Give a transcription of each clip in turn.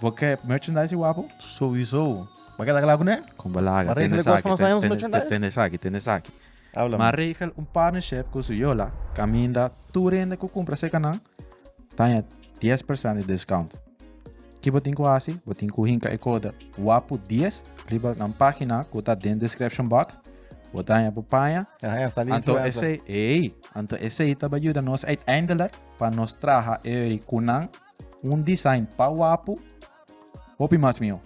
Bo ke merchandise di Wapo? Souiso. Bo keda kla kuné? Kon bo laga. Tene esaki, tene esaki, tene esaki. Ma regel un partnership ku su yola kaminda tur hende ku kumpra seka nan taña dies persent di discount. Ki bo tin ku hasi? Bo tin ku hinka e kode Wapo dies riba nan pagina ku ta den description box. Bo taña bo paña. Anto esei, ei, anto esei ta bai yuda nos uiteindelijk pa nos traha ei ku nan. Un design pa wapu, hopi mas mio.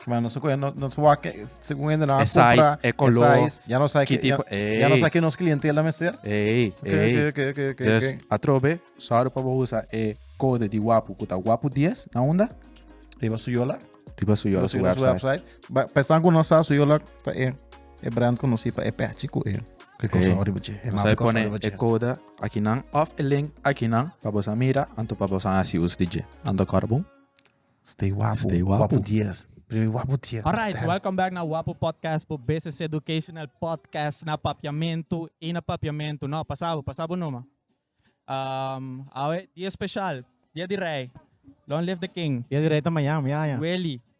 Maar nos coge, nos, nos wak, según hende na Esa is, compra, e color, esa is, ya no sabe ki que, tipo, ya, ya no ey. sabe que nos clientela mester. Ey, Ok, ey. ok, ok, ok, ok, Dus, ok. atrobe, sorry pa bo usa e code di Wapu, cu ta Wapu 10, na unda? Riba su yola, Riba su yola, riba su su yola, su website. website. Ba- Pensan cu no sa su yola ta e, e brand conocí pa e patchy cu e, e cosa Ey. riba dje, e Nos mapa hay cosa pone riba e dje. code Akinan òf e link akinan pa boso a mira anto pa boso a hasi uso di dje. Nan ta kòrda bon? Stay wapu. Stay wapu. Wapu dies. Primi wapu dies na Alright, stèl. welcome back na Wapu Podcast por BCC Educational Podcast na Papiamentu i na Papiamentu. No, pasa bo, pasa bo numa. Um, awe dia special, dia di Rei. Long live the King. Dia di Rei ta mañana, miaña. Weli.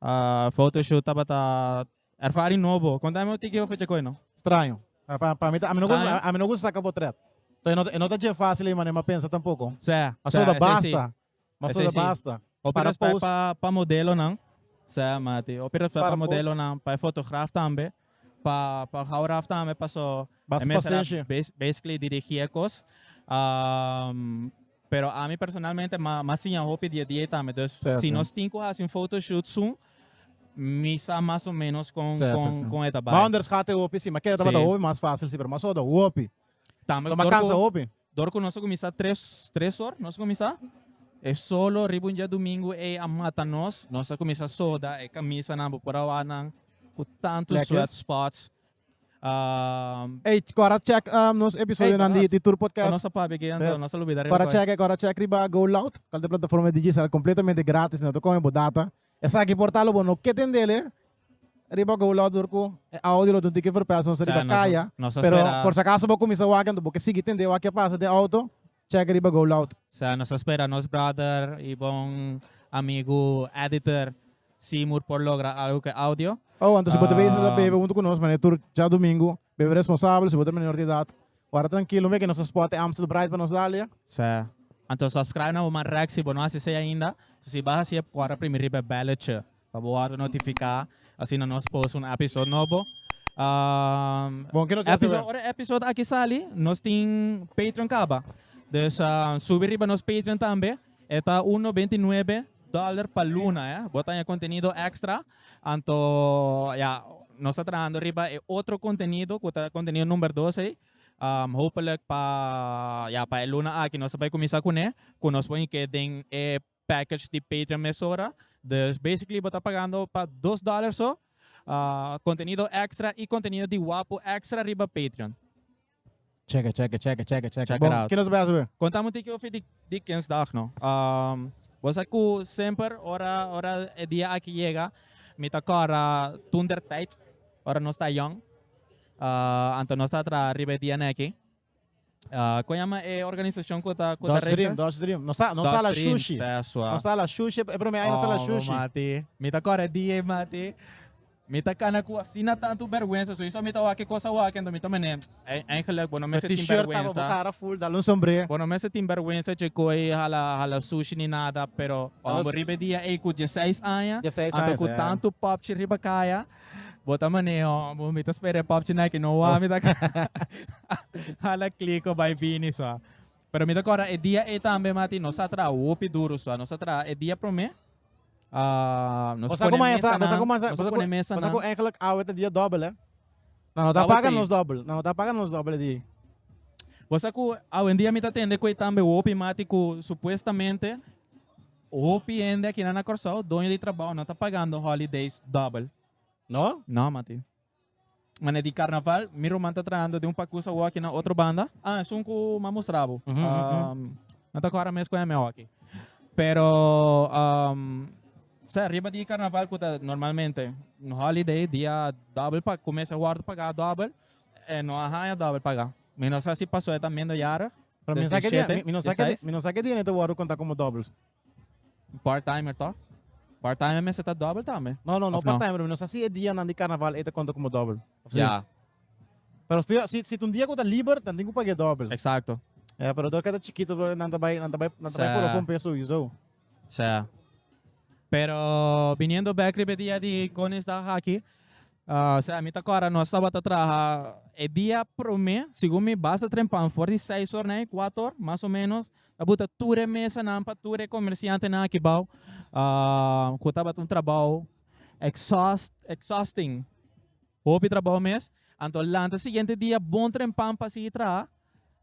Ah, photoshoot tabata ervaring nobo. Contami un tiki over Chacoi, no? Straño. Pa, pa mi ta, a mi no gusta, Straño. a mi no gusta saca potret. So e no ta, e no ta dje fácil ei manera mi a pensa tampoco. Sè, Ma sè, so ta esei si. basta. Ma so Esei ta si. basta. Hopi Para respect post. pa, pa modelonan. Sè, Mati. Hopi respect pa Para post. modelonan, pa e fotograaf tambe. pa pa hou raf tambe paso Bas pasensia. basically dirigi e kos. Um, pero a mi personalmente ma ma siña hopi dia dia tambe. Dus sí, si sí. nos tin ku hasi un photoshoot soon misa mas o menos kon sí, kon sí, sí. kon eta bai. Boundaries gaat hopi sí, maar kere dat sí. hopi mas fácil sí, pero mas oda hopi. Tambe Toma kansa hopi. Dor ku nos a kuminsá tres tres or nos a kuminsá e solo riba un diadumingu ei a mata nos nos a kuminsá soda e kamisanan bo por a wanan ku tantu Plekes. sweat spots um, Ey, cora check um, nos episodio di, di Tour Podcast. Nos a papi aquí, entonces nos a olvidar riba. Cora check, cora check riba Go Loud, cual de plataforma Digicel completamente gratis, no te come bo data. Esa aquí portalo, bo no que tendele, Riba ku lo tur ku e audio lo dun tiki verpèson sa riba kaya, pero por si akaso bo kuminsá wak anto bo ke sigui tende wak ke a pasa den outo, chèk riba Go Loud. Sa nos ta spera nos brother i bon amigu editor Seymour por logra algu ku e audio. Oh, anto si bo ta bisa ta bebe huntu ku nos mané tur djadumingu, bebe responsabel si bo ta menor di edat. Wòrda trankil, no mira ke nos spot e Amstel Bright pa nos Dalia. Sa, anto subscribe na bo man rèk si bo no hasi esei ainda. Si bo a hasi e por wòrda primi riba e bèlletjé. Pa bo wòrdu notifiká asina nos post un episode nobo. Bon, ke nos ta hasi awor? Ora e episode aki sali, nos tin Patreon kaba. Dus subi riba nos Patreon tambe. E ta un nobenta i nuebe dòler pa luna. Bo ta haya kontenido èkstra. Anto ya, nos ta trahando riba e otro kontenido ku ta kontenido number dos ei. Hopelijk pa, ya, pa e luna aki nos ta bai kuminsá kuné, ku nos por hik'é den e package di Patreon mesora, dus basically bo ta pagando pa dos dollar so, contenido extra y contenido di Wapu extra riba Patreon. Check it, check it, check it, check it, check it. Check it out. Bon, kinos bai a sabi? Conta un tiki hopi di Kensdag no. Bo sa cu semper ora ora e dia aki yega mi ta cora toentertijd ora nos ta yong, anto nos ta traha riba e dia neki. Kon yama e organisashon ku ta ku ta Dutch Dream, Dutch Dream. Nos ta nos ta la shushi. Nos ta la shushi, e prome ai nos ta la shushi. Oh mati, mi ta kore di e mati. Mi ta kana ku asina tantu berwensa, soniso mi ta wak e kos awak enton mi ta mane, eigenlijk bo no mester tin berwensa. T-shirt abo bo kara full, dal un sombre. Bo no mester tin berwensa dje koi hala hala shushi ni nada, pero ora bo riba e dia ei ku dieseis aña, anto ku tantu popchi riba kaya, Bo ta maneho, bo mi ta spera e popchi Nike no wa, mi ta hala kliko bai bini so. Pero mi ta kora e dia ei tambe mati nos a traha hopi duru so, nos a traha e dia promé ah, nos Bosa ku pone maya sa, bosa mesanan, ku maya sa, nos bosa ku pone bosa ku mesanan. eigenlijk awe ta dia dobbel hè. Na no ta Awe paga tri. nos dobbel, na no ta paga nos dobbel e di. Bosa ku awendia mi ta tende ku ei tambe hopi mati ku supuestamente Hopi hende akinan na Kòrsou, doño di trabou, no ta pagando holidays dòbel. No? No, Mati. Manera di Karnaval, mi ruman ta trahando den un pakus awor aki na otro banda. Ah, esun ku m'a mustrabo. No ta kò ara mes ku hèm e hoki. Pero, sè, riba di Karnaval ku ta normalmente un holiday, dia dòbel, pa kumesa wòrdu pagá dòbel, E no a haña dobel pagá. Mi no sa si pasoe ta minderjarig. Pero mi no sa ke dia, mi no sa ke dia, mi no sa ke dia ne ta wòrdu konta komo dobel. Part-timer tò? Part-timer mester ta dobel tambe. No, no, no part-timer, mi no sa si e dianan di karnaval ei ta konta komo dobel òf si. Ya. Pero fijo, si si ta un dia ku ta liber, nan tin ku pag'é dobel. Eksakto. Ya, pero dor ke ta chikitu nan ta bai, nan ta bai, nan ta bai por lo kompra e suyu, so. Sea. Pero biniendo bek riba e dia di Koningsdag aki, ah, sea, mi ta kora nos tabata traha e dia prome, segun mi basa trempan for di seis or nei, kuato or, mas o menos, ta buta tur e mesanan pa tur e komersiantenan aki bou, ah, ku tabata un trabou exhaust, exhausting. Hopi trabou mes, anto lanta siguiente dia bon trempan pa sigui traha,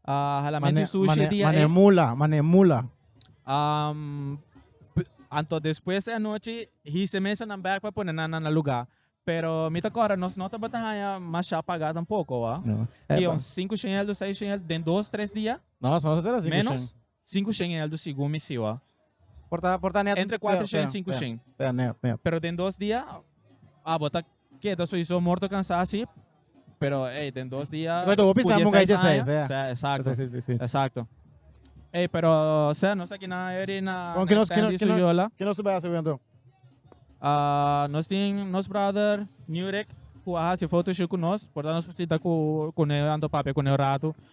a hala Mane, menti sushi mane, dia mane e. mula, mane mula. Am, p- anto despues e anochi hise mesa nan back pa pone nan na na lugar. Pero mi ta corre nos no tabata haya mas sha paga tampoco, ah. No. Ki Eh, un 5 shengel, un 6 shengel den dos, tres dia, No, so no se trata cinco menos. shen. Sinku shen e eldu sigun mi siwa. Por ta por ta net Entre kuater shen i sinku pea shen. pea net net. Pero den dos dia abo ta keda soiso morto kansa así pero ey den dos dia Bai ta hopi ku sa munga i diaseis aña diaseis sea exacto Diaseis si si. exacto ey pero sea nos ta kina eri na Bon kino stand di kino kino Suyola kino su bai hasi hopi anto. Ah, nos tin nos brother Nurek ku a hasi photoshoot ku nos por ta nos por sinta ku kune anto papia kune un ratu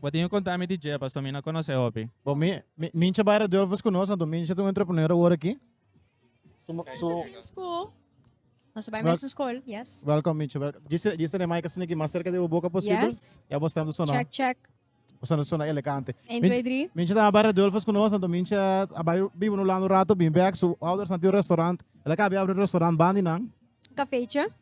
Bo tin ku konta mi di dje, paso mi no a konos'é hopi. Bo mi, mi, Mincha Baira Dulfus ku nos, anto Mincha ta un entrepreneur awor aki. Su, Kaya su, ta same school. Nos a bai Wel- mesun skol, yes. welcome Mincha, welcome. Djis, djis tene mic asina aki mas cerca di bo boca posible. Yes. Ya bo stando sona, Check, check. bo stando sona elegante. Eén, Min- twee, drie. Mincha ta Baira Dulfus ku nos, anto Mincha a bai biba nu lando un rato, bin back, su ouders nan tin un restaurant. Elak a habi abri un restaurant Bandi nan. Kafeetje.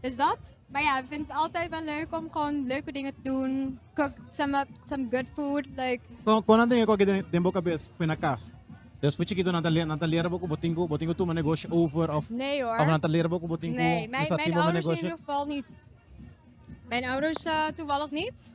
Dus dat. Maar ja, we vinden het altijd wel leuk om gewoon leuke dingen te doen. Cook some up some good food. Like. Con, conan tin e coge den, den bo cabes fu na cas? Dus fu chikito nan ta, nan ta lera bo cu bo tin cu, bo tin cu tuma negoshi over of? Nee hoor. Of nan ta lera bo cu bo tin cu, nee, mijn, mijn ouders in ieder geval niet. Mijn ouders uh, toevallig niet.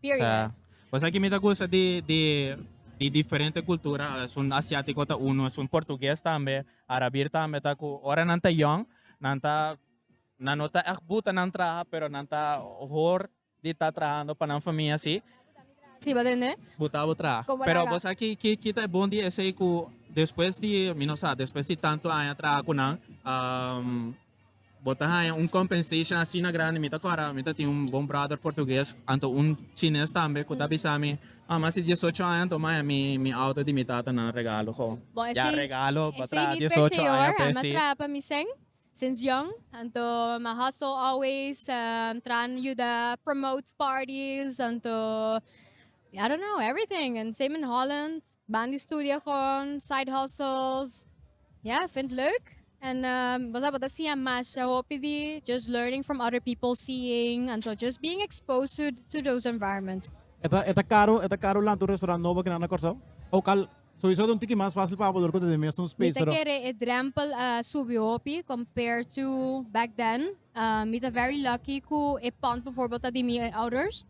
Period. Bo sa kimi ta gusta di di di diferente cultura, esun asiatico ta uno, esun portugues tambe, arabir tambe ta cu ora nan ta yong nan ta nan no ta ech buta nan traha pero nan ta hoor di ta trahando pa nan famia si, Siba den e. buta bo traha. Como pero laga? bo sa ki ki ki ta e bon di esey cu despues di mi no sa despues di tanto aña traha cu nan Bo ta haña un compensation asina grandi mi ta kòrda mi ta tin un bon brother portugues anto un chines tambe ku ta bisa mi mama si dies ocho aña anto maya mi mi auto di mi tata nan regalo ho Bon esei ya regalo pa esei traha mi dies ocho aña perseor a mi a p'esei traha pa mi sèn since young anto mi a hustle always traha na yuda promote parties anto I don't know everything and same in Holland. Ban di studia con side hustles. Ya, vind leuk. En um, bo tabata siña masha hopi di just learning from other people, seeing, and so just being exposed to, to those environments. E ta, e ta caro, e ta caro lanta un restaurant nobo aquí na na Curaçao. Ook al, sowieso ta un tiki mas fácil pa abordar cu ta den mesun Mi space, ta pero kere e drempel a subi hopi compared to back then. Um mi ta very lucky cu e pond bijvoorbeeld ta di mi ouders.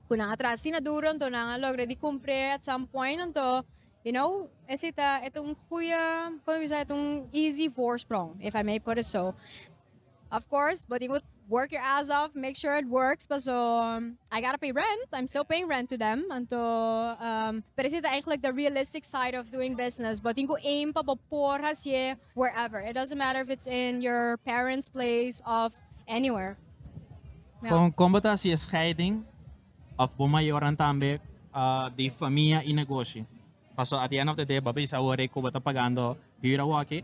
Cu nan a traha asina duro anto nan a logra di cumpre at some point anto you know ese ta e ta un goeie como bisa e ta un easy voorsprong if I may put it so. Of course bo tin cu work your ass off make sure it works paso I gotta pay rent I'm still paying rent to them anto um pero ese ta eigenlijk the realistic side of doing business bo tin cu aim pa bo por hacier Wherever, it doesn't matter if it's in your parents place of anywhere. Con con bo ta haci e scheiding of bo mayoran tambe di famia y negoshi? Paso at the end of the day bo a bisa awor cu bo ta pagando huur awor aki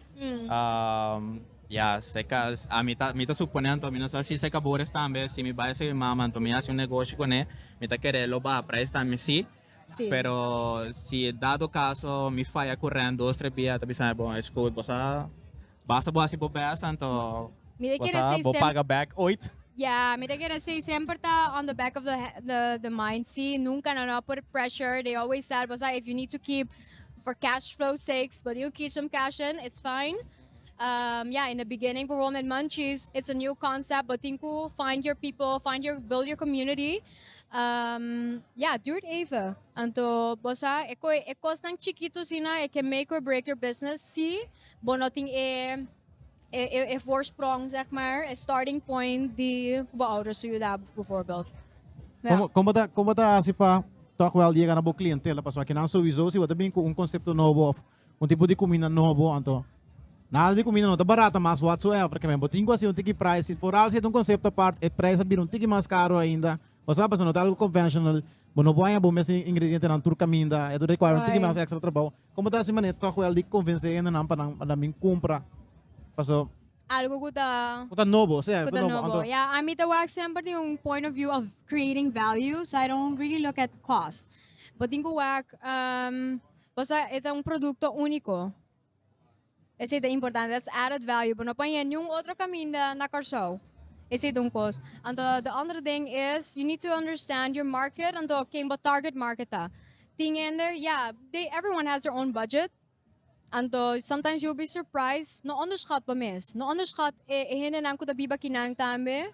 ya se cas ami ta mi ta supone anto mi no sa si se cabores tambe si mi bay a ser mi mama anto mi haci un negoshi con e mi ta kere lo baha prijs tambe si Sí. Pero si dado caso mi falla cu rent dos tres bia ta bisa bon es goed bosa basta bo hasi bo best anto Mi de quiere bosa say bo sem- paga back ooit. Ja, mi ta quiere say semper ta on the back of the, he- the, the mind, sí. Nunca nan no a por pressure. They always tell bosa if you need to keep for cash flow sakes, bo tin cu keep some cash in, it's fine. Um, ja, in the beginning por wol met munchies, it's a new concept. Bo tin cu find your people, find your, build your community. Um, ja, duurt even. Anto, bo sa, e, co- e cosnan chiquito sina, e can make or break your business, si bo no tin e, e, e, e voorsprong, zeg maar, e starting point di cu bo ouders su juda, bijvoorbeeld. Ja. Como, como ta, como ta hace pa toch wel llega na bo clientela? Pas akinan sowieso, si bo ta bin cu un concepto nobo of Un tipo di cuminda nobo, anto nada di cuminda no ta barata mas whatsoever. Keme bo tin cu haci un tiki prijs, si foral si e ta un concepto apart, e prijs a bira un tiki mas caro ainda. Pasobra paso no ta algo conventional, bo no por haña bo mes ingredientenan tur caminda, e ta require un tiki mas extra trabou. Como ta haci manera toch wel di convence hendenan pa nan ta bin cumpra? Paso. Algo cu ta. Cu ta nobo, sea, cu ta nobo, anto. Ya, a mi ta wak semper den un point of view of creating value, so I don't really look at cost. Bo tin cu wak Pasobra e ta un produkto úniko. Esei ta importante. Dat is added value. Bo no por haña niun otro kaminda na Kòrsou. Esei ta un kos. Anto di òndere ding is, you need to understand your market, anto ken bo target market ta. Tin hende, ya, they, everyone has their own budget. Anto, sometimes you will be surprised. No onderschat bo mes. No onderschat e hendenan ku ta biba kinan tambe.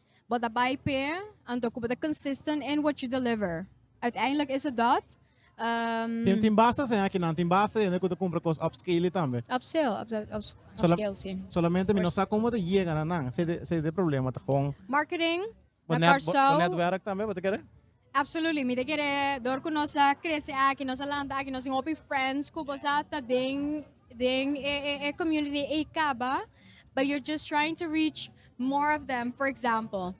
Bo ta bai p'e, anto ku bo ta consistent in what you deliver. Uiteindelijk is het dat. Um, Tin, tin basta hende aki nan, tin basta hende ku ta kumpra kos upscale tambe. Upscale, up, up, up, Sola, upscale, sí. Solamente mi no sa komo ta yega na nan. Se de, se de problema ta kon. Marketing, na Kòrsou. Bo netwerk tambe, bo ta kere? Absolutely mi ta kere dor cu nos a crece aki nos a lanta aki nos tin hopi friends cu bo sa ta den den e e e community ey caba but you're just trying to reach more of them for example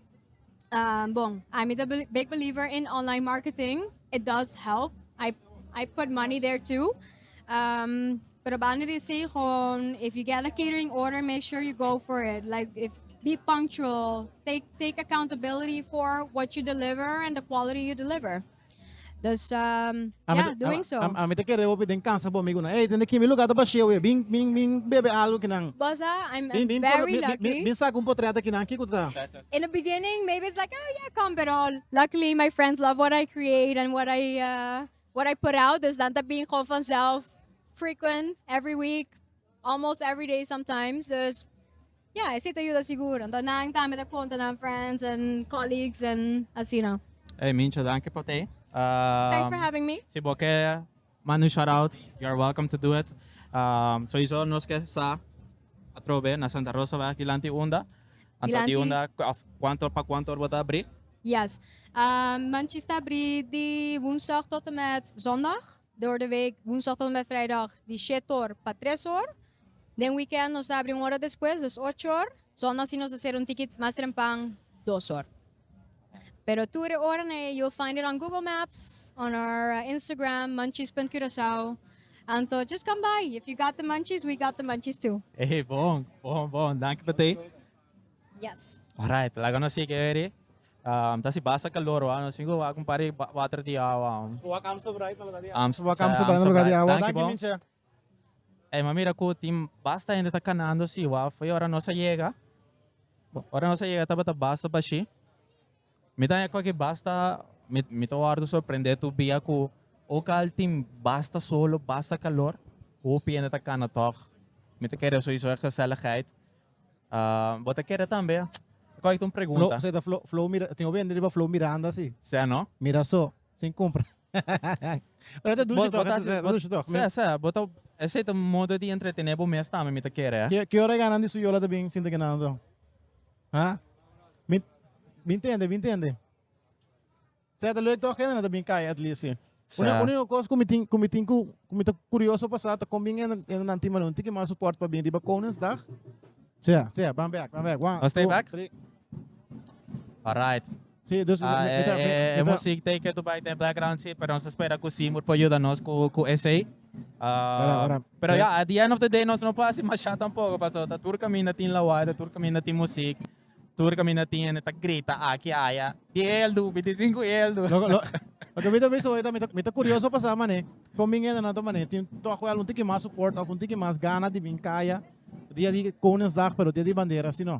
um bon a mi ta beli- big believer in online marketing it does help I I put money there too. Um, probando di say gewoon, if you get a catering order, make sure you go for it. Like, if be punctual, take take accountability for what you deliver and the quality you deliver. Dus, um, A yeah, mi- doing a, so. A, a mi te kere opi den casa bo amigo na. Hey, tende kimi lugar ta basheo e. Bin bin bin bebe algo que nan. Bossa, I'm, Bin I'm bin polo- very bin- bin- lucky. bin- bin saca un portret aquí nan kiko ta. in the beginning, maybe it's like, oh yeah, come, pero luckily my friends love what I create and what I uh, What I put out, dus dan ta bin gewoon vanzelf, frequent, every week, almost every day sometimes. Dus ja, esei ta yuda sigur. Anto nan tambe ta konta nan friends en colleagues en asina. Ey, Mincha, danki pa te. Thanks for having me. Si bo ke manda un shoutout, you are welcome to do it. Souiso nos ke sa atrobe na Santa Rosaweg dilanti unda. Anto di unda, of, kuanto, pa kuanto or bo ta abri? Yes. Manchis ta abrí di Woensdag tot en met Zondag. Doordeweek Woensdag tot en met Vrijdag di shét or pa tres or. Den weekend nos ta abrí un ora despues, dus ocho or. Zondag si nos a ser un tiki mas trempan, dos or. Pero tur e oranan ei you'll find it on Google Maps, on our Instagram manchis.curacao. Anto just come by. If you got the manchis, we got the manchis too. Ey, bon, bon, bon. Danki pa t'ei. Yes. Alright, laga nos sigi eri. Um, ta si basta calor, wa. Nos singo wa con pari ba- water di awa. um. Wak Amstel Bright na lugar di Amst- Wak sa- Amstel Bright na lugar di awa. Danki, Danki, bon. Mincha. Ey, ma mira cu tin basta hende ta canando si, wa. Foi ora nos a yega. Bo, Ora nos a yega tabata basta bashi. Mi ta haña cualkier basta, mi, mi ta wordo sorprende tur bia cu oca al tin basta sol of basta calor, hopi hende ta cana tog. Mi ta kere sowieso e gezelligheid. Ah, bo ta kere tambe? Cu ai ta un Flo, pregunta? so e ta Flo, Flo Mira- tin hopi hende riba Flo Miranda si. Sea no? Mira so, sin cumpra. Pero e ta Bo, dushi bo tog, e ta ta haci, e ta bo, dushi tog. Mi, sea, sea, bo ta, esey ta modo di entretene bo mes tambe, mi ta kere, eh. ki, ki ora e gana di su yola ta bin sinta guinando? Ha? Mi, mi ntende, mi ntende. Seta luek toch hende ta bin kai at least si. Una, Sa. una yung kos ku mi tin, ku mi tin ku, ku mi ta kurioso pasá ta kon bin hende, hende nan tin mano un tiki mas support pa bin riba Koningsdag. Sea, sea, ban back, ban back. One, Ons two, twee back? three. Alright. Sí, dus mi ta mi ta. E music take it to bay den background si pero nos ta spera cu Seymour por yuda nos cu cu esey. pero ya at the end of the day nos no por haci masha tampoco pasobra ta tur caminda tin lawaai ta tur caminda tin music tur caminda tin hende ta grita aki y aya di ey al do bit di cinco ey al do. Loke mi ta bisa hoy ta mi ta curioso pa sa mane con bin hendenan ta mane tin tok wel un tiki mas support of un tiki mas gana di bin caya dia di koningsdag pero dia di bandera si no.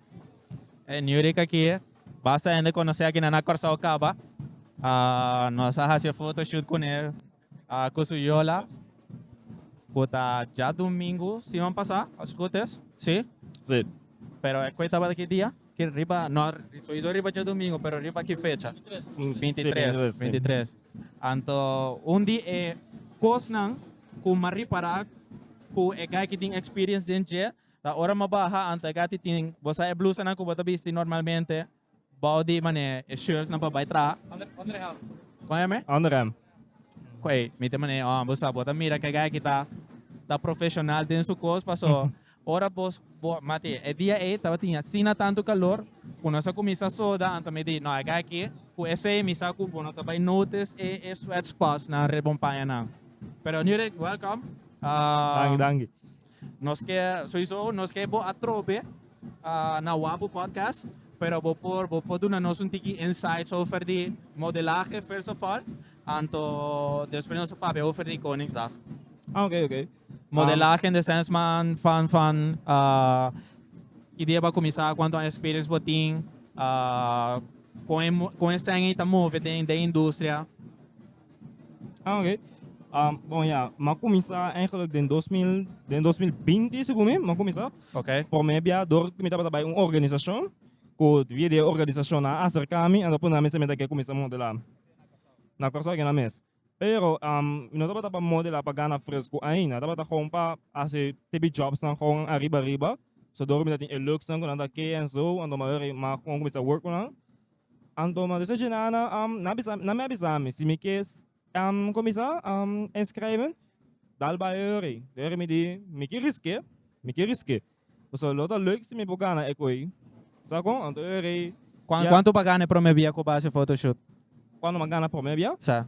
E Nuri ka kie. Basta hende konosé akinan na Kòrsou kaba. Ah, nos a hasi e fotoshoot ku ne, ah, ku su yola, ku ta djadumingu siman pasá, as goed is. Sí? Sí. Pero e kuei tabata ki dia? Ki riba, no, souiso riba djadumingu, pero riba ki fecha? Bintitres. Sí, bintitres, sí. Bintitres. Anto, un di e kosnan ku m'ha ripará ku e guy ki tin experience den dje, Ta ora mo baha anta e gatitin, bo sa e blusanan ku bo ta bisti normalmente bou di manera e shirtsnan pa bai traha? Kon e mi? Underhemd. Kon ei, mi ta manera oh, bo sa bo ta mira ku e guy aki ta ta profeshonal den su kos paso ora bo bo mati e dia ei tabatin asina tantu kalor ku nos a kuminsá soda anta mi di no e guy aki ku esei mi sa ku bo no ta bai notice e e sweat spotsnan riba un pañanan. Pero Nurek, welcome. Danki, danki. Nos ke soiso nos ke bo atrobe na wapu podcast pero bo por bo por duna nos un tiki insights over di modelahe first of all anto despues nos a papia over di koningsdag. Ah oké oké. Modelahe in the sense man van van ah ki dia bo kuminsá kuantu aña experience bo tin ah kon e kon e sèn ei ta move den den industria. Oké, bon ya, ma kuminsá eigenlijk den dos mil den dos mil binti segun mi ma kuminsá. Oké. Promé bia dor ku mi tabata bai un organisashon ku via di e organisashon a aserká mi a ta pone ami semi ta ke kuminsá modelá na Kòrsou akina mes. Pero mi no tabata pa modelá pa gana fresku ainda, a tabata gewoon pa hasi te bijòbsnan gewoon ariba ariba, so dor mi ta tin e looksnan ku nan ta ke en so, a ta wòrdu ma kon kuminsá wòrk ku nan. Anto mi a bisa Djenana, nan mi a bisa mi si mi ke cuminsa inschrijven, dal bai e hori. E hori mi di mi ke riske, mi ke riske. Pasobra lo ta leuk si mi por gana e koe, sa con? Anto e hori. Cuanto bo a gana e prome bia cu bo a haci photoshoot? Cuanto mi a gana prome bia? Sa.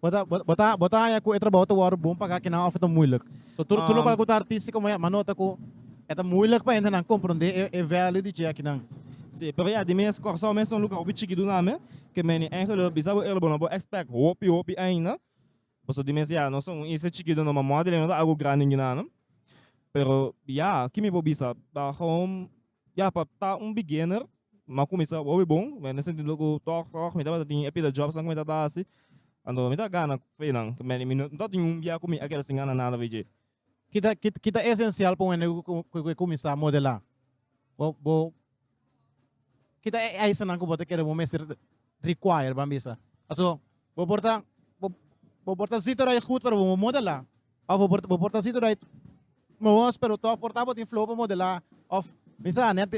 Bo ta bo ta bo ta haña ku e trabou ta wòrdu bon pagá kinan òf e ta muilik. So tur tur lokal ku ta artista komo e a nota ku e ta muilik pa hendenan komprondé e e value di dje akinan. Sí, pero ya di mes Kòrsou mes ta un lugá hopi chiki dunami ke men i Angel lo bisa bo ela bo no bo èkspèk hopi hopi ainda. Pasobra di mes ya nos ta un isla chiki dor no mamó di lei no ta algu grandi ningún anu. Pero ya, ke mi por bisa? Ta hòm. Ya, pa ta un beginner, m'a kuminsá hopi bon, na e sentido ku tòg tòg mi tabata tin e pila jòbsnan ku mi tabata hasi, anto mi ta gana fe nan, mi no ta tin un bia ku mi a keda sin gana nada fi dje. Ki ta ki ta esensial pa un hende ku ke kuminsá modelá? Bo bo ki ta e aisanan ku bo ta kere bo mester require ban bisa. Paso bo por ta bo, bo por ta zit eruit goed pero bo mo modelá of bo por bo por ta zit eruit moos pero toch por ta bo tin flow pa modelá of mi sa net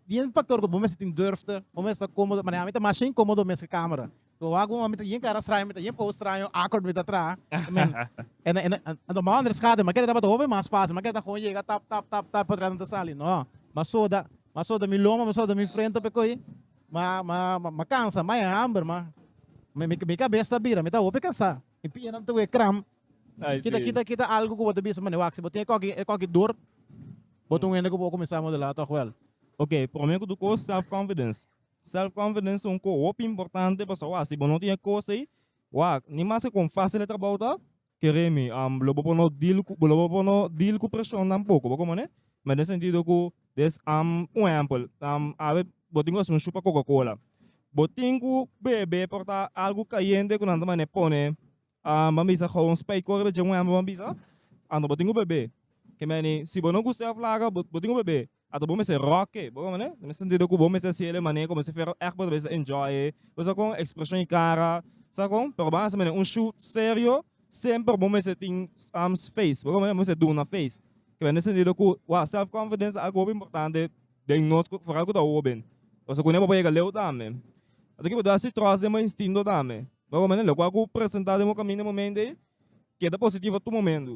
di un factor ku bo mester tin durfte bo mester ta komodo maneha mi ta masha inkomodo mes ku camera bo wak bo mi ta yin cara straño mi ta yin pose straño awkward mi ta tra I mean en en en tuma ander schaduw mi kere tabata hopi mas fácil mi kere ta gewoon yega tap tap tap tap portret nan ta sali no ma soda ma soda mi loma ma soda mi frente p'e ko'i. Ma, ma, ma, ma kansa, ma e hamber, ma. Mi, mi, mi kabes ta bira, mi ta hopi kansa. Mi pianan ta we kram. Ay, Kita, sí. kita, kita algo ku bo ta bisa, mane, wak, si bo tin e koki, e koki dor, bo ta un hende ku bo kuminsá modelá tòg wèl. Oke, promé ku tur kos, self-confidence. Self-confidence ta un kos hopi importante, pasobra si bo no tin e kos ei, wak, ni mas ke kon fásil e trabou ta, kere mi lo bo por no deal ku lo bo por no deal ku preshon tampoko bo komo ne me den sentido ku des am un ehempel awe bo tin ku hasi un shup pa coca cola bo tin ku bebe por ta algu kayente ku nan ta mane pone ban bisa gou un spei kore beche un ehempel ban bisa anto bo tin ku bebe ke meni si bo no gusta e aflaga bo tin ku bebe Ato bo mester roke. Bo mane? Den e sentido ku bo mester hasi el e manera ku mester Fero ègt bo ta bisa enjoy e. Bo sa kon? Ekspreshon i kara. Sa kon? Pero bo hasi manera un shoot serio, semper bo mester tin face. Bo mane? Bo mester duna face. Ke bai den e sentido ku wak self confidence ta algu hopi importante den nos ku foral ku ta hoben. Bo sa kuné bo por yega leu tambe. Ato ke bo ta hasi tròst den bo instinto tambe. Bo mane? Lokual ku bo presentá den bo kaminda e momentu ei, keda positivo tur momentu.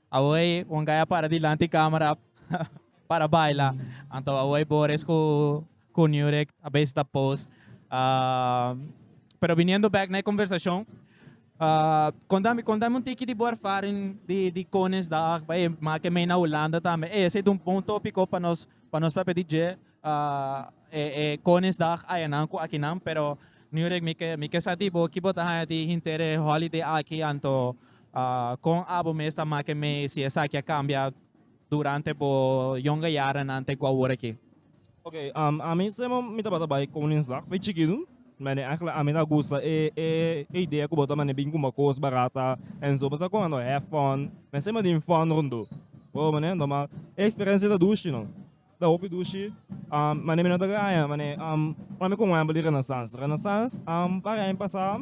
Awoy Juan Gay a para dilanti e camera para baila. Anto awoy Boris cu cu Nurek a bezig ta pose. Um, pero viniendo back na e conversacion, uh, contame, contame un tiki di bo ervaring di, di Koningsdag, bay, maak e mei na Hulanda tambe. Ey, esey ta un bon topico pa nos, pa nos papia di dje. E Koningsdag dag aya nan ku akinan pero Nurek mi ke mi ke sa di bo ki bo ta haña di hinter e holiday aki anto kon abo mes ta make mee si esaki a kambia durante bo yonga yarannan te ku awor aki? Oke ami semo mi tabata bai Koningsdag bai chikitu mane aigelijk ami ta gusta e e idea ku bo ta mane bin kumba kos barata en so bo sa kon anto hèf fòn men semi a tin fòn ròntu bo mane anto ma e eksperensia ta dushi no. Ta hopi dushi mane mi no ta graña mane ora mi con wember di renaissance. Renaissance un par di aña pasa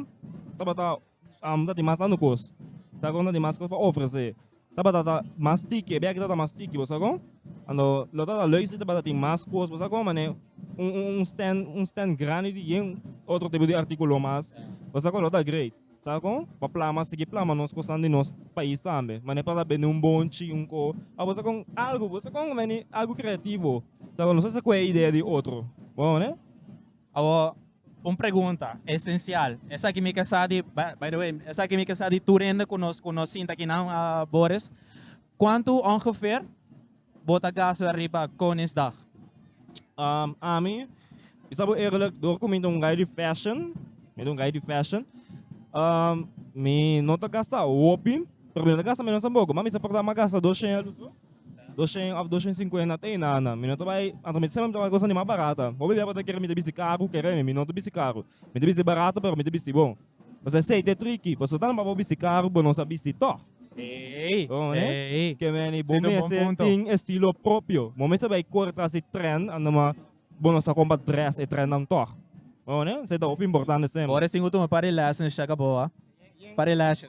tabata no ta tin mas tanto cos ta con no ta tin mas cos pa ofrece tabata ta mas tiki e bek ta mas tiki bo sa con lo lo ta lei si tabata tin mas cos bo sa con mane un un stand un stand grandi di yen otro tipo di articulo mas bo sa con lo ta great. Sabe kon? Pa plama, sigui plama nos kosnan di nos pais tambe. Manera pa ta bende un bonchi, un ko. Ora bo sa kon algu, bo sa kon beni algu kreativo. Sa kon nos a sakue idea di otro. Bo hoor e? Awor, un pregunta esencial. Esaki mi ke sa di, by the way, esaki mi ke sa di tur hende ku nos ku nos sinta aki nan, Boris. Kuantu ongeveer. Bota gaso ariba Koningsdag. Ami bisa bo eerlijk, door ku mi ta un guy di fashion, mi ta un guy di fashion, mi no ta gasta hopi, pero mi no ta gasta menos dan boku. Mami sa por ta mi a gasta dos shen alu su, dos shen of dos shen sinkuenta te na na. Mi no ta bai, anto mi ta siempre mi ta bai kosnan di mas barata. Hopi bia bo ta kere mi ta bisti karu, kere mi, mi no ta bisti karu. Mi ta bisti barata pero mi ta bisti bon. Bo sa aceite tricky. Bo so tan pa bo bisti caro bo no sa bisti toch. Ey, ey. Ke meni bo mester tin e estilo propio. Bo mester bay corre tras di trend and ma bo no sa con pa dress e trend nan toch. Esey ta hopi importante semper. Bo restin ultimo par di lashes shaka bo a. Par di lashes.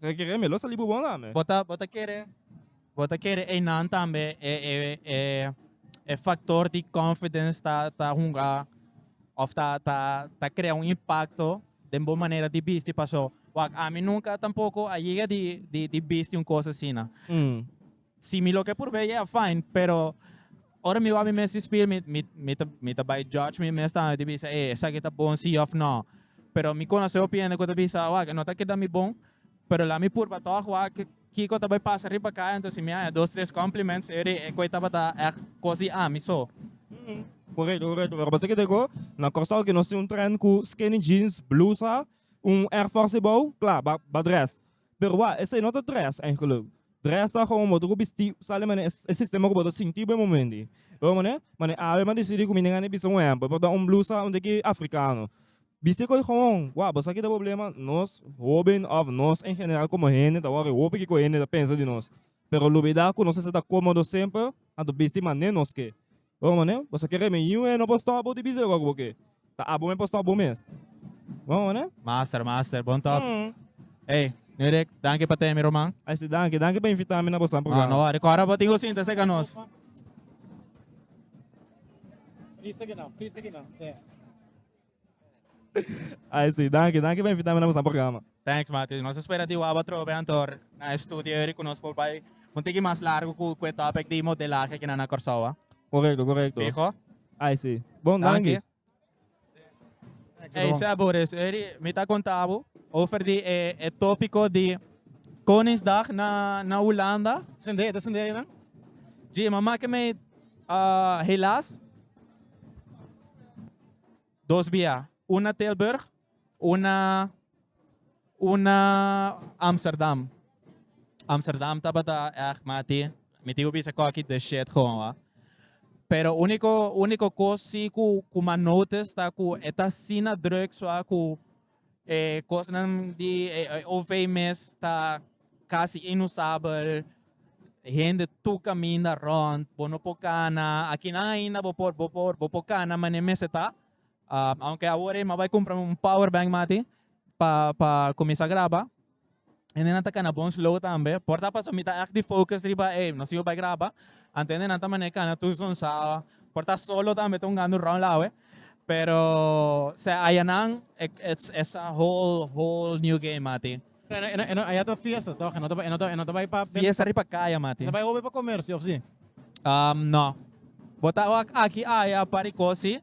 Bo ta kere mi lo sali bubon lami? Bo ta bo ta kere bo ta kere einan tambe e e e e factor di confidence ta ta hunga of ta ta ta crea un impacto den bo manera di bisti paso wak ami nunca tampoco a yega di di di bisti un cos asina. Si mi lo ke purbe yeah fine pero ora mi wou mi mes di spill mi mi mi ta mi ta bai judge mi mes tambe di bisa ey esaki ta bon si of no pero mi konosé hopi hende ku ta bisa wak no ta keda mi bon pero lami purba tog wak kiko ta bai pasa riba kaya entonces si mi haña dos tres compliments yo di ekui tabata echt kos di ami so. Korekto korekto pero bo sa kende ku na Kòrsou ke nos tin un trend ku skinny jeans blusa un airforce ebou kla ba ba dress. Pero wak, esei no ta dress eigenlijk. Dress ta komo bo ta ku bisti sa den manera e sistema ku bo ta sinti bo e momento ei. Bo ta mane, mane awe m'a desidi ku mi no gana di bisa un ehempel, bo ta dal un blusa unda ki afrikano. Bisti ku e gowon, wak, bo sa kiko ta problema? Nos hoben òf nos en general komo hende ta wòrdu hopi kiko hende ta pensa di nos. Pero lo bida ku nos esta ta komodo semper anto bisti mané nos ke. Bon mane, boso kere mi yiu e no por stop bo di bisa loke bo ke. Ta abo mi por stop bo mes. Bon mane. Master, master, bon top. Ey, New Rick, danki pa temi Roman. Ay si, danki, danki pa invita mi na boso nan programa. No, no wori, kora bo tin ku sinta seka nos. Please seki nan, please seki nan. Ai si, danki, danki pa invitami na boso programa. Thanks Mati, nos a spera di wou atrobe Anthor na e studio eri ku nos por bai un tiki mas largu ku ku e topic di modelahe aki na na Kòrsou a. Korekto, korekto. Fiho? Ai si. Bon, danki. Danki. Ei Seb por eso eri mi ta konta bo over di e e topiko di Koningsdag na na Hulanda. Sende, ta sende ayina? Djima, make me helaas. dos bia, un na Tilburg, un na un na Amsterdam. Amsterdam tabata echt mati, mi tin ku bisa ku aki the shit gewoon wa. Pero uniko uniko kos si ku ku ma notice ta ku e ta asina druk sua ku E kosnan di e, e OV mes ta casi inusabel. Hende tu caminda rond, bo no por cana. Akinan ainda bo por, bo por, bo por cana mane mester ta. Ah, aunke awor e m'a bai cumpra un power bank mati pa, pa cuminsa graba. Hende nan ta cana bon slow tambe. Por ta pasobra mi ta echt di focus riba ey, nos tin por bay graba. Anto hende nan ta mane cana tur son sa. Por ta solo tambe ta hunga round lawe. Pero se aya nan es a whole whole new game mati. Aya ta fiesta toch? E no ta bay pa den. Fiesta riba caya mati. E ta bay hopi pa comercio of si? No. Bo ta wak aki aya pa recoci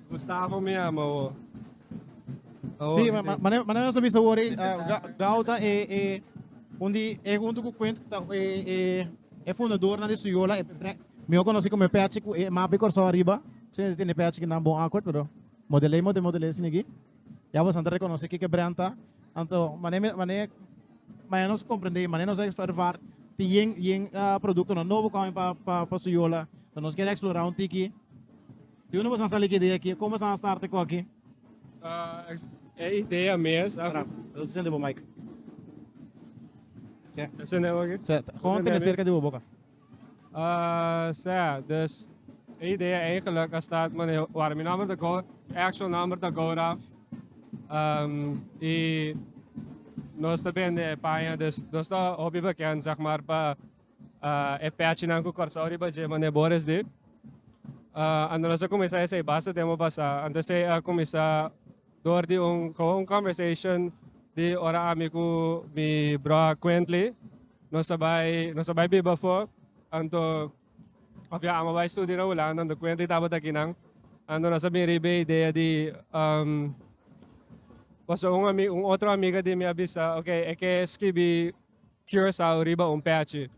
Gustavo mi ama awo. Awo Sí, mi ma- ma- tin. mané mané nos a bisa wori, ah, Ga- Gao ta e e un di e junto ku Quint ta e e e fundadornan di Suyola, e pre- miho konosí komo e pèchi ku e mapi Kòrsou ariba. Misschien e tene pèchi ki nan bon akkoord, pero modelei mo te modelei sini aki. Ya boso anto rekonosí kiko e brèn ta. Anto mané mi mané mané nos komprendé, mané nos a observar tin yen yen ah produktonan nobo kòmen pa pa pa Suyola. So nos kier eksplorá un tiki. Diunde boso a sali cu e idea aki? Con boso a starta cu aki? E idea mes a. Lo dicen di bo mic. Sea. Lo dicen di bo aki? Sea. Con tene cerca di bo boca. Sea, dus e idea eigenlijk a start wanneer where mi number ta gooi, e actual number ta gooi eraf. Y nos ta bende e paña, dus nos ta hopi bekend zeg maar pa Ah, e pèchinan ku Kòrsou riba dje manera bo res di. Ah, ando nos a kuminsá esei basta tempu pasá, anto esei a kuminsá dor di un, kawa un conversation di ora ami ku mi broa Quently nos a bai, nos a bai biba afó, anto òf ya amo a bai studia na Hulanda, anto Quently tabata aki nan. Anto nos a bin riba e idea di, am, pasobra un ami, un otro amiga di mi a bisa, oke, e ke skibi. Curaçao riba un pèchi.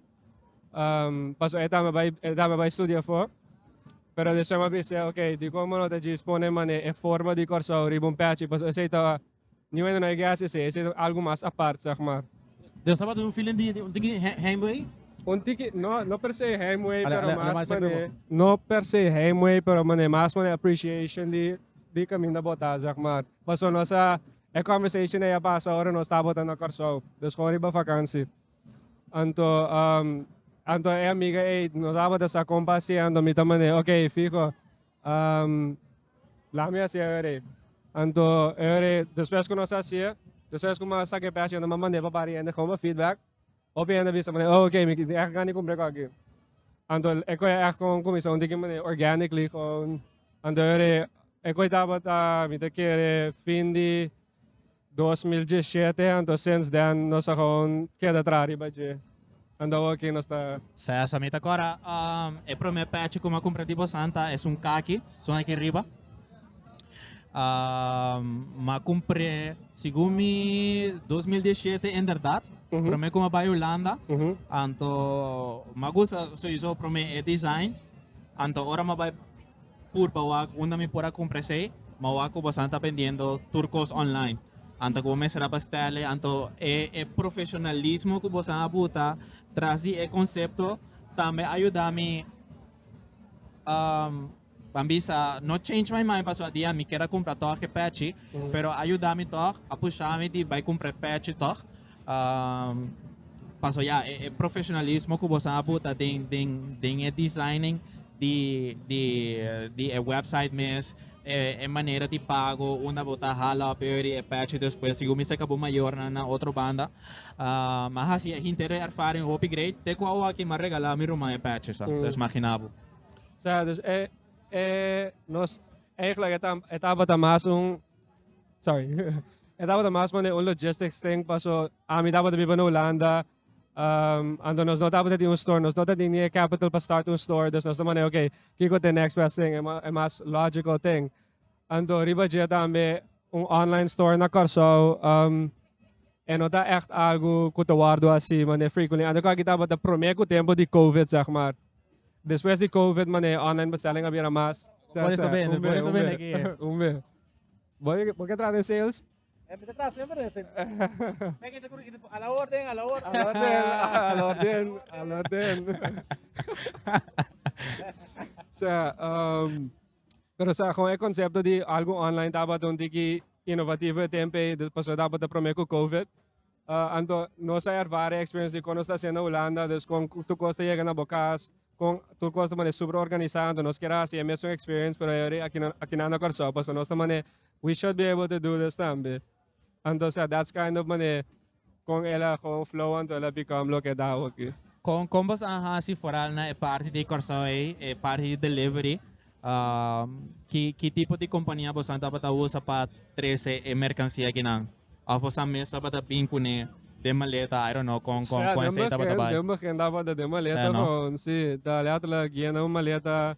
Um, paso e dama bai, e dama bai studia fo. Pero de shema bise, ok, di como no te djis pone mane e forma di Curaçao riba un pèchi, paso esei ta, niuende no e gas esei, esei ta algo mas apart, zeg maar. Dus tabata un feeling di, di un tiki he- heimwee? Un tiki, no, no per se heimwee, Ale- pero ale- ale mas mas mane, sekubo. no per se heimwee, pero mane mas mane appreciation di, di caminda bota, zeg maar. Paso nos a, E conversation ei a pasa ora nos tabata na Kòrsou, dus kon riba vakansi. Anto anto e amiga ei no tabata sa kon pa hasié, anto mi ta mand'é, ok, fiho, laha mi hasié e ora ei. Anto e ora ei despues ku nos hasié, despues ku mi a saka e pèsha, no mi a mand'é pa Bariende, kòm a feedback. Hopi hende a bisa manera, oh ok, mi tin echt gana di cumpri cu aki. Anto e coi echt con cuminsa un diki manera organically, con anto e e coi tabata mi ta kere fin di 2017, anto since then nos a gewoon keda traha riba dje. Anto awor aki nos ta Sa sa mi ta kora, um, e prome pèchi ku mi a kumpra di Bosanta es un kaki, son aki riba. m'a compré segun mi 2017 en verdad prome cu m'a bai Holanda anto m'a gusta sowieso prome e design anto ora m'a bai pur pa wak unda mi por a compra esey m'a wak cu bosan ta bendiendo tur cos online anto cu bo mester a bestele anto e e profesionalismo cu bosan a buta tras di e concepto tambe a yuda mi. Ban bisa, No change my mind pasobra di ami kier a cumpra tog e pechi, pero a yuda mi tog, a pusha mi di bai cumpra e pechi tog. Pasobra ya, e profesionalismo cu boso a buta den, den, den e designing di, di, di e website mes, e, e manera di pago unda bo ta hala op e ori e pechi despues sigur mi seca bo mayor nan na otro banda. Mi a hasi e hinter e ervaring hopi great te cu awoa ki mi a regala mi ruman e pechi, so, pues magina bo. Sa, dus e, e, nos, eigenlijk, e, ta, e tabata mas un, sorry, e tabata mas mane un logistics thing, paso, a mi tabata biba na Holanda, um, ando nos no tabata di un store, nos no ta di ni e capital pa start un store, dus nos ta mane, ok, kiko te next best thing, e, ma, e mas logical thing. Ando riba dje tambe, Un online store na Kòrsou e no ta ègt algu ku ta wòrdu hasi manera frequently antes. Kon aki tabata promé ku tempu di covid sègmar. Despues di covid manera e online bestelling a bira mas. Por eso ta bende, por eso ta bende aki. Umbe. Bo ke traha den sales? Mi ta traha semper den sales. Mi aki ta kuru i ta a la orden, a la orden. A la orden, a la orden, a la orden. Sea. Pero sa kon e konsepto di algu online tabatin un tiki inovativo e tempe i pasobra e tabatin prome ku Covid. Anto nos a ervara e experience di kon nos ta haciendo na Hulanda dus kon tur kos ta yega na bo kas kon tur kos ta manera super organisa anto nos kier a haci e mesun experience pero e wor akinan na Kòrsou pasobra nos ta manera we should be able to do this tambe. Anto sea that's kind of manera con el a gewoon flow anto el a become loke ta awo aki. Con con boso a haci foral na e parti di Corsou ey, e parti di delivery, ki ki tipo di compania boso tabata usa pa trece e mercancia akinan? Of boso mes tabata bin cune den maleta, I don't know con con con esey tabata bay. Sea, den begin den begin tabata den maleta, con si ta alerta la guia na un maleta.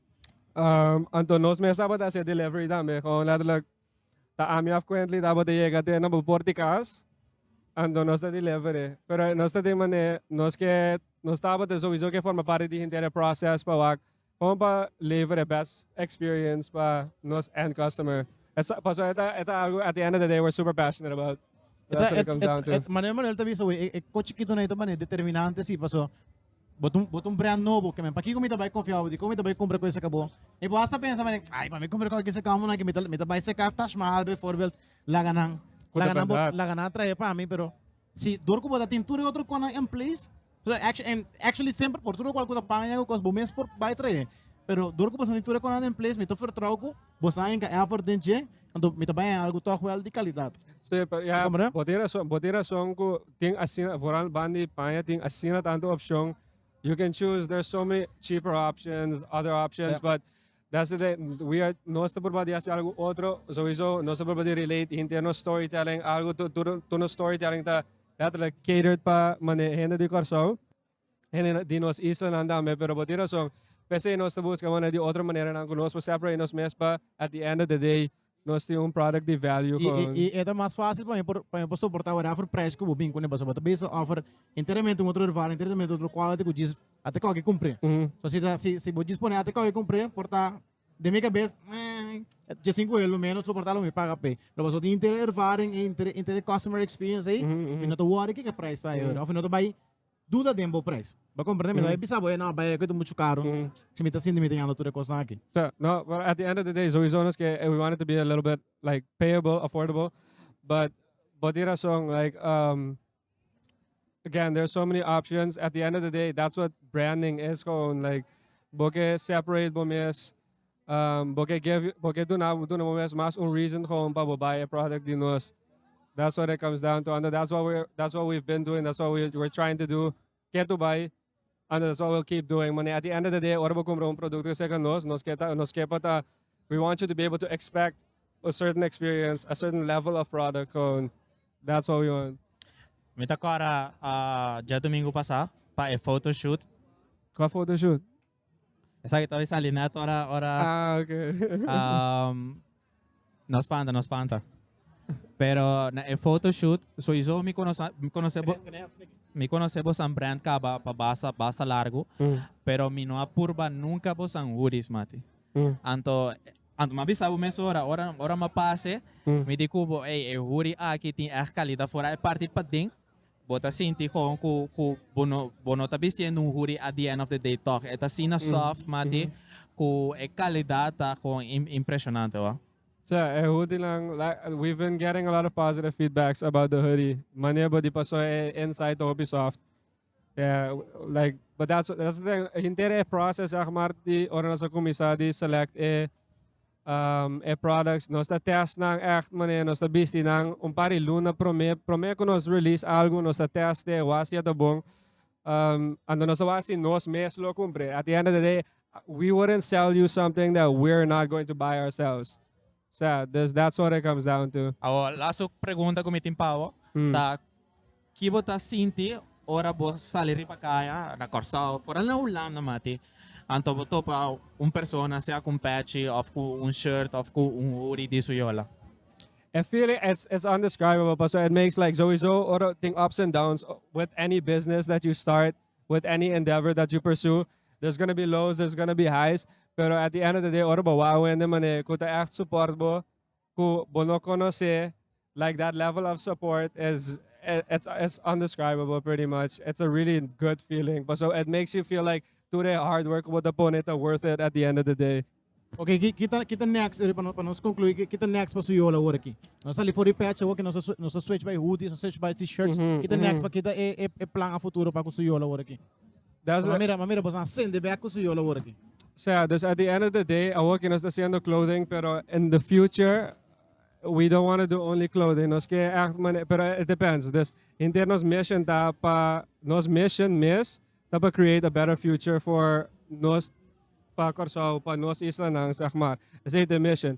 Um, anto nos mes tabata hacer delivery también. Gewoon letterlijk, ta ami af kwentli tabata yega te na beport di kas. Anto nos ta delivery. Pero nos ta de mane, nos ke, nos tabata sowieso ke forma parte di hintera process pa wak. Gewoon pa leveren best experience pa nos end customer. Et sa- paso eta, eta algo at the end of the day we're super passionate about. That's what it comes down to. Manuel Manuel ta bisa, wey, e, e kochikito na i ta mane determinante, sí, paso Bo ta bo ta un brand nobo, kemen pakiko mi ta bai konfia bo, dikon mi ta bai kumpra kuesa ka bo. E bo hasta pensa mane, ay pa mi kumpra kon kisa koumonan aki mi ta mi ta bai seka Taj Mahal beivoorbeeld, laga nan Ku ta laga nan bo bèrdad. laga nan trahe pa mi, pero si dor ku bo ta tin tur e otro konan in place, so actu- en actually semper por tur lokual ku ta paña ku kos bo mes por bai trahe, pero dor ku bo ta tin tur e konan in place mi ta vertrou ku Bo sa enka effort den dje, anto mi ta bai a algu tòg wèl di kalidat. Sí, pero ya Comprende? bo tin rason, bo tin rason ku tin asina vooral ban di paña tin asina tantu opshon. You can choose, there's so many cheaper options, other options, Ja. but that's the thing, we are, nos ta purba di hasi algu otro, souiso nos ta purba di relate hinter nos storytelling, algu tur tur tur nos storytelling ta letterlijk catered pa mane hende di Kòrsou. Hende di nos islanan tambe, pero bo tin rason. P'esei nos ta buska manera di otro maneranan ku nos por separate nos mes pa at di end of the day nos tin un product di value I, kon. i, i e ta mas fásil pa mi por pa mi por soportá wèra after presh ku bo bin kuné pasobra bo ta bisa offer enteramente un otro ervaring enteramente un otro quality ku djis a ta kòke kumpré. So si ta si si bo djis pone a ta kòke kumpré por ta den mi kabes meh dje sin ku e lo ménos lo por ta lo mi paga p'e. Pero pasobra tin inter e ervaring inter inter e customer experience ei mi no ta worry kiko e price ta ayora of mi no ta bai duda den bo prijs. Bo comprende mi? No e bisa bo, no, bai, e cuesta mucho caro. Si mi ta sinti mi ta yanda tur e cosnan aki. So, no, but at the end of the day, sowieso nos ke we want it to be a little bit like payable, affordable, but bo tin razon, like, um, again, there are so many options. At the end of the day, that's what branding is, gewoon like bo ke separate bo mes Um, bo ke gevi, bo ke duna, duna bo mes mas un reason gewoon pa bo buy a product di nos. That's what it comes down to. And that's what we that's what we've been doing. That's what we we're trying to do. Ke tu buy. And that's what we'll keep doing. Mane at the end of the day, ora bo compra un producto seca nos, nos ke ta, nos kepa ta, we want you to be able to expect a certain experience, a certain level of product gewoon. That's what we want. Mi ta kora uh, ja domingo pasa pa e photoshoot. Qua photoshoot? Esaki tabes sali net ora, ora Ah, ok. um, no spanta, no spanta. Pero na e photoshoot, sowieso mi conoce, mi conoce, bo, mi conoce bo San Brand Caba pa basa, basa largo, Mm, pero mi no a purba nunca bo San hoodies, mati. mm, Anto, anto ma bisa bo mes ora, ora, ora ma pase, mm. mi di cubo, hey, e hoodie aki tin echt calidad, fora e parti pa den, Bo ta sinti gewoon ku ku bo no bo no ta bistiendo un hoodie at the end of the day tòg. E ta asina soft, mati, ku e kalidat ta gewoon im impresionante hoor. Cha, e hoodienan we've been getting a lot of positive feedbacks about the hoodie. Manier bo di pasó e inside ta hopi soft. Yeah, like but that's that's the thing, henter e process sehma di ora nos a kuminsá di select e E products nos ta test nan echt manera nos ta bisti nan un par di luna prome prome cu nos release algo nos ta test de e washi a ta bon anto nos ta washi nos mes lo cumpre at the end of the day we wouldn't sell you something that we're not going to buy ourselves so yeah dus that's what it comes down to. Awor laso pregunta cu mi tin pa bo ta Ki bo ta sinti ora bo sali riba kaya na Kòrsou, foral na Hulanda mati, anto bo topa un persona sea ku un pèchi òf ku un shirt òf ku un hoodie di su yola? E feeling it's it's undescribable paso it makes like souiso ora tin ups and downs with any business that you start with any endeavor that you pursue there's gonna be lows there's gonna be highs pero at the end of the day ora bo wak awende mane ku ta ègt support bo ku bo no konos'é, like that level of support is it's it's undescribable pretty much. It's a really good feeling. Paso it makes you feel like tur e hard work ku bo ta pone ta worth it at the end of the day. Oké, ki ki ta ki ta next e pa nos konklui ki ki ta next pa su yol awor aki? Nos sali for di pèch awor ki nos ta nos ta switch bai hoodies nos ta switch bai t-shirts ki ta next pa kita e e plan a futuro pa ku su yol awor aki? That's Ma mira, ma mira, boso a sende bek ku su yol awor aki. sea, dus at the end of the day, awor ki nos ta haciendo clothing, pero in the future, we don't want to do only clothing. Nos ke echt mane, pero it depends. Dus hinter nos mission ta pa, nos mission mes ta pa create a better future for nos, pa Curaçao, pa nos islanan, zeg maar. Esei ta e mission.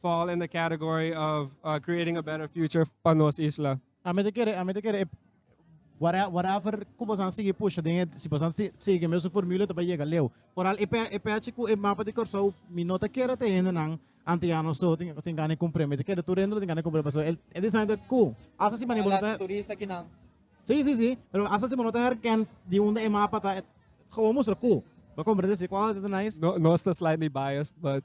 fall in the category of uh, creating a better future pa nos isla. A mí te quiere, a mí te quiere, whatever que vos han sigue puxa, den, si vos han sigue mesmo formula te va llega leu. Por al EP, EP chico, el mapa de Corsou, mi no te quiere te hende nan, ante ya no so, tin, tin gane compre, mi te quiere tu rendo, tin gane compre, paso, el, el design de cool. Asa si mani bonita. Turista que nan. Sí, sí, sí, pero asa si bonita herken, di un de mapa ta, gewoon mostra cool. Lo comprende, si cual, nice. No, no está slightly biased, but...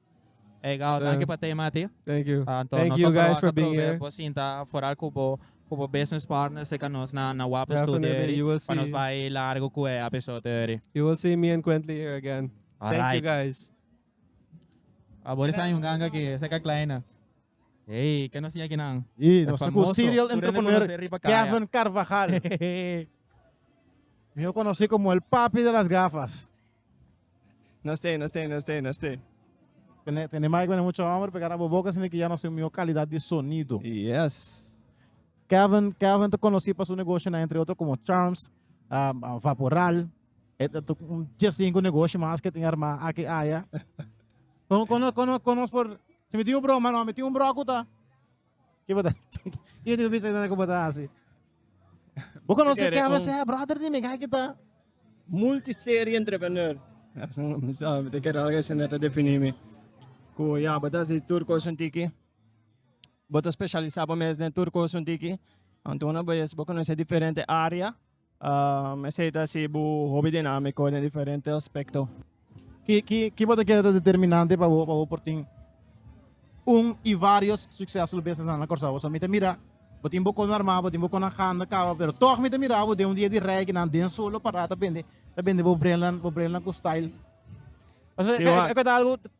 Hey, Gao, yeah. dankie pa te, Mati. Thank you. Uh, Thank you guys for being here. Bo sinta vooral ku bo ku bo business partners se kan nos na na wapen studio. You will see. Pa nos bai largo ku e episode eri. You will see me and Quently here again. All Thank right. you guys. Abor sa yung ganga ki se ka kleina. Hey, que nos aquí nan. Y nos con serial entrepreneur Kevin Carvajal. Yo conocí como el papi de las gafas. No stay, no stay, no stay, no stay. Tene tene mic bene mucho hombre pega rabo boca sino que ya nos mejor calidad di sonido. Yes. Kevin Kevin te conocí pa su negocio na entre otro como Charms, um, uh, Vaporal. Et et un jes cinco negocio mas que tenga ma aquí allá. Con con con con por se me tiene un bro, mano, me tiene un bro acuta. Ki bo ta Ki tin ku bisa nan ku bo ta hasi? Bo konosi ke habla se brother di mi kai ki ta multiserie entrepreneur. Mi sa mi ta kere algu asina ta defini mi ku ya bo ta hasi tur kos un tiki. Bo ta specialisa bo mes den tur kos un tiki. Anto una bes bo konosi diferente area. Esei ta si bo hopi dinámiko den diferente aspekto. Ki bo ta kere ta determinante pa bo pa bo por tin un i vários suksesful bisnisnan na Kòrsou? Pasobra mi ta mira bo tin bo kona armá, bo tin bo kona handa kaba, pero tòg mi ta mira bo den un dia di rei kinan den sol lo pará ta bende ta bende bo brennan bo brennan ku style. Pasobra e kua ta algu